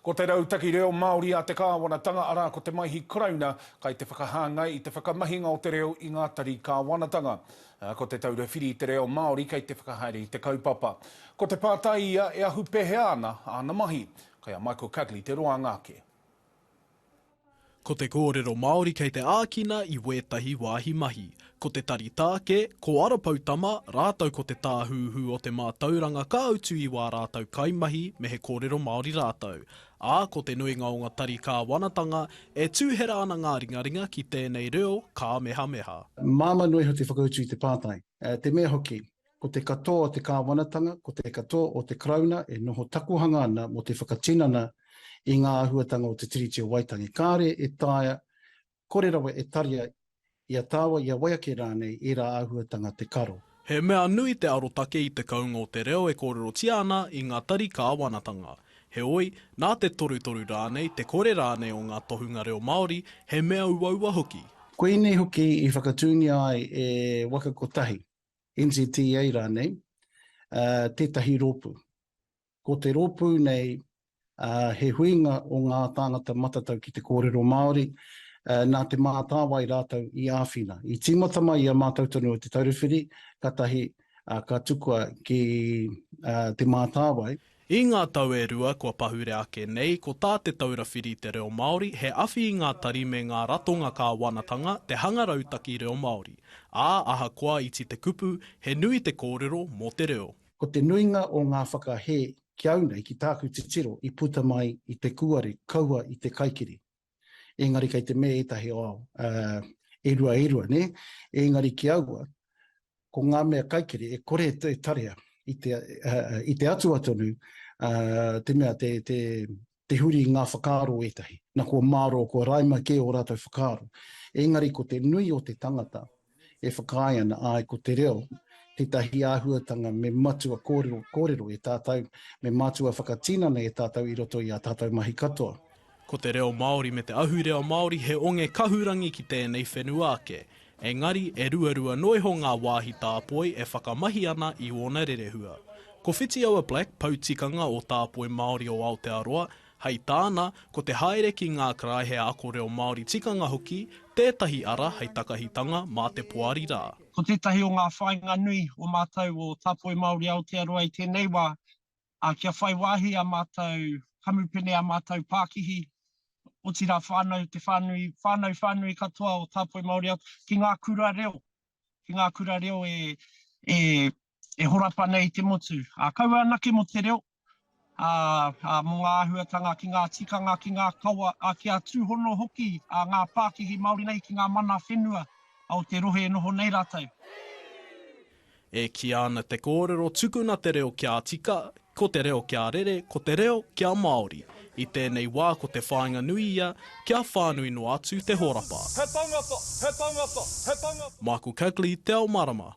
Ko te rautaki reo Māori a te kāwanatanga, arā, ko te Maihi Karauna, kai te whakahāngai i te whakamahinga o te reo i ngā tari kāwanatanga. Ko Te Taura Whiri i te Reo Māori kei te whakahaere i te kaupapa. Ko te pātai ia, e ahu pēhea ana āna mahi? Kai a Michael Cugley te roanga ake. Ko te kōrero Māori kei te ākina i wētahi wāhi mahi. Ko te tari tāke, ko Ara Poutama, rātou ko Te Tāhuhu o te Mātauranga ka utu i wā rātou kaimahi me he kōrero Māori rātou. Ā, ko te nuinga o ngā tari kāwanatanga, e tūhera ana ngā ringaringa ki tēnei reo kāmehameha. Māmā noa iho te whakautu i te pātai, te mea hoki. Ko te katoa o te kāwanatanga, ko te katoa o te Karauna e noho takohanga ana mō te whakatinana i ngā āhuatanga o te Tiriti o Waitangi. Kāre e taea, kore rawa e taria i a tāua, i a wai ake rānei, ērā āhuatanga te karo. He mea nui te arotake i te kounga o te reo e kōrerotia ana i ngā tari kāwanatanga. Heoi, nā te torutoru rānei, te kore rānei o ngā tohunga reo Māori, he mea uaua hoki. Koinei hoki i whakatūngia ai e Waka Kotahi, NZTA rānei, tētahi rōpū. Ko te rōpū nei, he huinga o ngā tāngata matatau ki te kōrero Māori, nā Te Mātāwai rātou i āwhina. I tīmata mai i a mātou tonu o Te Taura Whiri, kātahi ka tukua ki Te Mātāwai. I ngā tau e rua kua pahure ake nei, ko tā Te Taura Whiri i te Reo Māori he awhi i ngā tari me ngā ratonga kāwanatanga te hanga rautaki reo Māori, ā, ahakoa iti te kupu, he nui te kōrero mō te reo. Ko te nuinga o ngā whakahē ki au nei, ki tāku titiro, i puta mai i te kūare kaua i te kaikiri. Engari kei te me etahi o ao, e rua e rua, ne? Engari ki aua, ko nga mea kaikere e kore e tarea i te, i te atua tonu, te mea te, te, te huri i nga whakaaro etahi. Na kua maro, kua raima ke o ratou whakaaro. Engari ko te nui o te tangata, e whakaae ana, āe ko te reo tētahi āhuatanga me matua kōrero, kōrero e tātou, me matua whakatinana e tātou i roto i ā tātou mahi katoa. Ko te reo Māori me te ahurea Māori he onge kahurangi ki tēnei whenua ake. Engari, e ruarua noa iho ngā wāhi tāpoi e whakamahi ana i ōna rerehua. Ko Whitiaua Black, pou tikanga o Tāpoi Māori o Aotearoa, Hei tāna, ko te haere ki ngā karaehe ako reo Māori tikanga hoki tētahi ara hei takahitanga mā te poari rā. Ko tētahi o ngā whāinga nui o mātou o Tāpoi Māori Aotearoa i tēnei wā, kia whai wāhi ā mātou kamupene, ā mātou pākihi, otirā whānau, te whānui, whānau whānui katoa o Tāpoi Māori Aotearoa, ki ngā kura reo, ki ngā kura reo e e horapa nei te motu. Ā, kaua anake mō te reo, ā, ā, mō ngā āhuatanga ki ngā tikanga, ki ngā kawa, ā, kia tūhono hoki ā ngā pākihi Māori nei ki ngā mana whenua o te rohe e noho nei rātou. E kīa ana te kōrero tukuna te reo kia tika, ko te reo kia rere, ko te reo kia Māori. I tēnei wā ko te whāinga nui ia kia whānui noa atu te horapa. He tangata, he tangata, he tangata. Michael Cugley, Te Ao Marama.